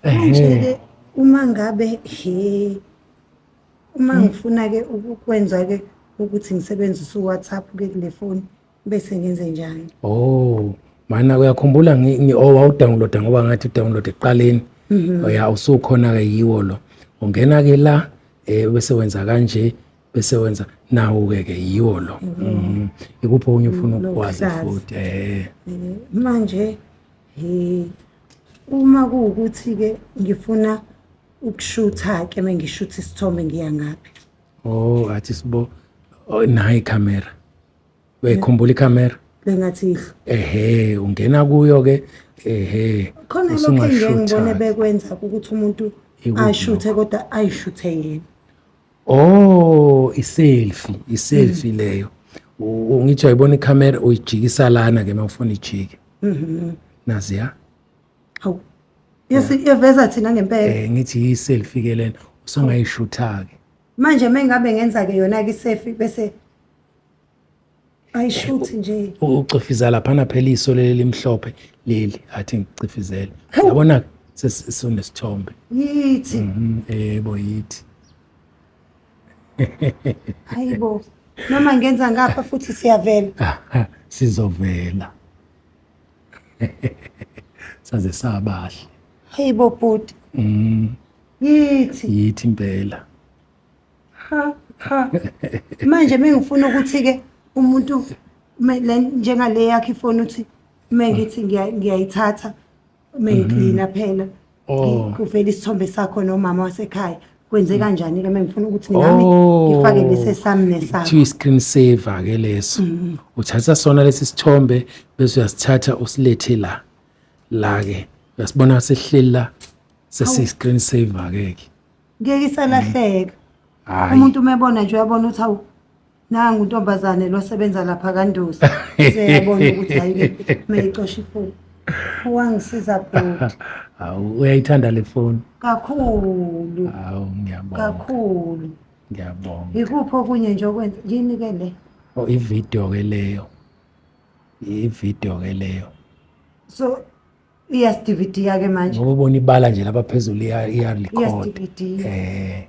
Manje-ke uma ngabe he uma ngifuna-ke ukukwenza-ke ukuthi ngisebenzise u-WhatsApp-ke kule foni bese ngenze njani? Oh, mana uyakhumbula ngi- ngi- oh, wawudownloada ngoba ngathi udownload ekuqaleni Mhm. ya usukhona-ke yiwo lo ungena-ke la um bese wenza kanje bese wenza nawo-ke ke yiwo lo Mhm. ikuphi okunye ufuna ukukwazi Lokuhlaza. futhi um Eh, Manje he Uma kuwukuthi-ke ngifuna ukushutha-ke uma ngishutha isithombe ngiya ngaphi? Oh, athi sibo oh, nayi ikhamera. Uyayikhumbula ikhamera? Le ngathi ihlo. Ehhe, ungena kuyo-ke ehhe. Khona lokho engike ngibone bekwenza ukuthi umuntu Ikuphi ashuthe kodwa ayishuthe yena. Oh, iselfie, iselfie mm. leyo. Ungithi uyibona icamera uyijikisa lana ke mawufuna ijike. Mhm. Nazi ya? Awu. Yesi iyeveza thina ngempela. Eh ngithi iselfie ke lena usungayishutha ke. Manje mengabe ngenza ke yona ke iselfie bese ayishuthi nje ucifizela laphana phela iso leli limhlophe leli athi ngicifizele yabona sesinesithombe yithi mhm, yebo yithi hayibo noma ngenza ngapha futhi siyavela sizovela saze sabahle hayibo bhuti mhm. yithi yithi impela cha manje mengifuna ukuthi ke umuntu njengale yakhe ifoni uthi mengithi ngiyayithatha mengiklina mhm. phela oh. kuvela isithombe sakho nomama wasekhaya kwenze kanjani ke mengifuna ukuthi nami oh. ngifake lesi sami nesakho kuthiwa i-screen saver ke leso mhm. uthatha sona lesi sithombe bese uyasithatha usilethe la la ke uyasibona sehleli la sesi-screen saver ke ke ngeke isalahleka Hayi. umuntu uma ebona nje uyabona ukuthi awu nangu untombazane lo sebenza lapha kandosi seyabona ukuthi hayi mayicosha ifoni wangisiza bhuti Hawu uyayithanda le phone. kakhulu Hawu ngiyabonga. kakhulu Ngiyabonga. yikuphi okunye nje okwenza yini ke le Oh ivideo ke leyo. Ivideo ke leyo. so iyasidividiya ke manje ngoba ubona ibala nje lapha phezulu iyalikhona eh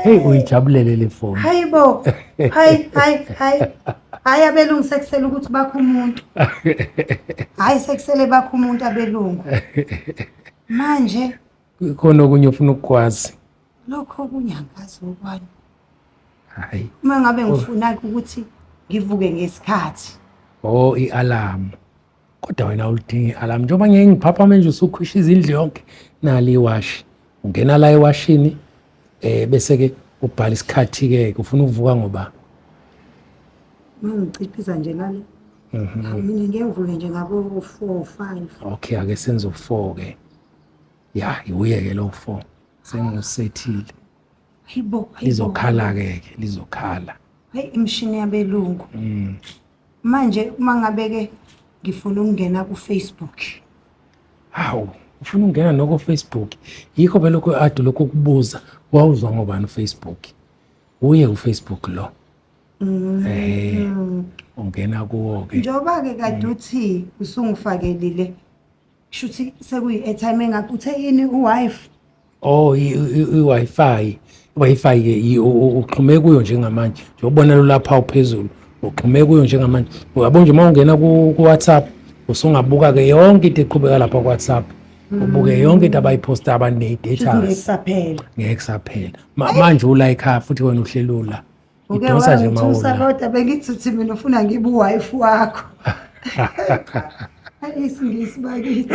hey uyijabulele le foni hayi bo hayi hayi hayi hayi abelungu sekusele ukuthi bakho umuntu hayi sekusele bakho umuntu abelungu manje khona okunye ufuna ukukwazi lokho okunye angazi okwani hayi uma ngabe ngifuna ukuthi ngivuke ngesikhathi oh i-alarm kodwa wena ulidinga i-alarm njengoba ngeke ngiphapha manje usukhwisha izindlu yonke nali iwashi ungena la ewashini eh bese ke ubhala isikhathi ke ufuna ukuvuka ngoba mangiciphiza nje lale mhm. mina ngeke ngivuke nje ngabo 4 5 okay ake senze u4 ke ya iwuyeke lo fo sengusethile hayibo lizokhala-ke ke lizokhala hayi imishini yabelungu mm. manje uma ngabe-ke ngifuna ukungena kufacebook hawu ufuna ukungena noko facebook yikho belokhu ade lokhu ukubuza wawuzwa ngobani ufacebook uye ufacebook lo mm. ehe ungena kuwo-ke njengoba-ke kade uthi usungifakelile Shuthi sekuyi-airtime engakho uthe yini u-wife? Oh, i- i- i- i-Wi-Fi. I-Wi-Fi ke i- u- u- uxhume kuyo njengamanje. Njengobona lolapha uphezulu. Uxhume kuyo njengamanje. Uyabo nje uma ungena ku ku- WhatsApp usungabuka ke yonke into eqhubeka lapha ku WhatsApp. Ubuke yonke into abayiposta abaneyi Shuthi ngeke data. kusaphela. Ngeke kusaphela. Ma- Manje ula ekhaya futhi wena uhlelula. uke Idonsa nje uma wangithusa uwunya. kodwa bengithi uthi mina ufuna ngibe uwife wakho Ay, isingisi bakithi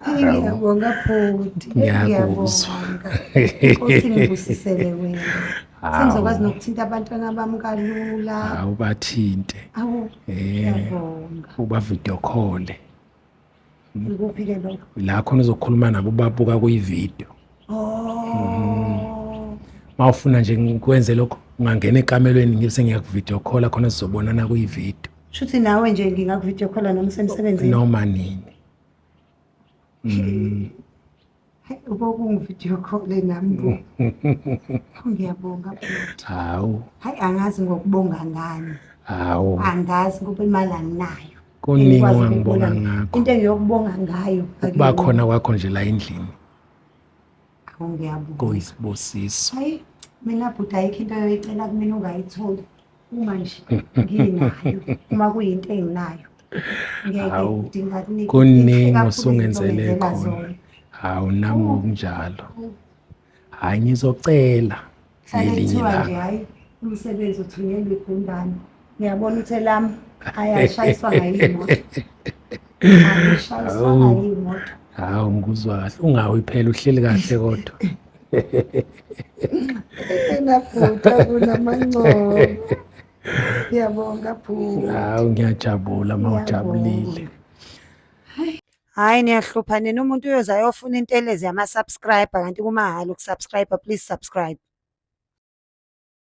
Ay, ngiyabonga bhuti Ay, Ngiyakuzwa. ngiyabonga. Nkosi ngibusisele wena sengizokwazi nokuthinta abantwana bami kalula awubathinte awu Eh. ngiyabonga ubavidokhole Ngikuphi-ke lokho? La khona uzokhuluma nabo ubabuka kuyividiyo. Oh. Uma ufuna nje ngikwenze lokho ungangena ekamelweni ngibe sengiyakuvidiyo khola khona sizobonana kuyividiyo. Shuthi nawe nje ngingakuvidiyo khola noma usemsebenzini? Noma nini. Mm. Ubokungu-video call nami bo. Ngiyabonga bhuti. Hawu, Hayi angazi ngokubonga ngani. hawu. Angazi ngoba imali anginayo. Kuningi Engikwazi ongangibonga ukubona. ngakho. Into engiyokubonga ngayo. Ukuba akuyona. khona kwakho nje la endlini Awu, ngiyabonga. kuyisibusiso. Hayi mina bhuti ayikho into yoyicela kumina ungayitholi. uma nje nginayo uma kuyinto enginayo hawu kuningi osungenzele khona hawu nami ngokunjalo hayi ngizocela ngelinye ilanga umsebenzi uthunyelwe igundane ngiyabona uthe lami ayashayiswa ngayimoto ayashayiswa ngayimoto hawu ngikuzwa kahle ungawi phela uhleli kahle kodwa Engaphutha kunamancomo. Ngiyabonga Phuma. Hawu ngiyajabula uma ujabulile. Hayi niyahlupha nina umuntu uyoza ayofuna intelezi yama-subscriber kanti kumahhala ukusubscriber please subscribe.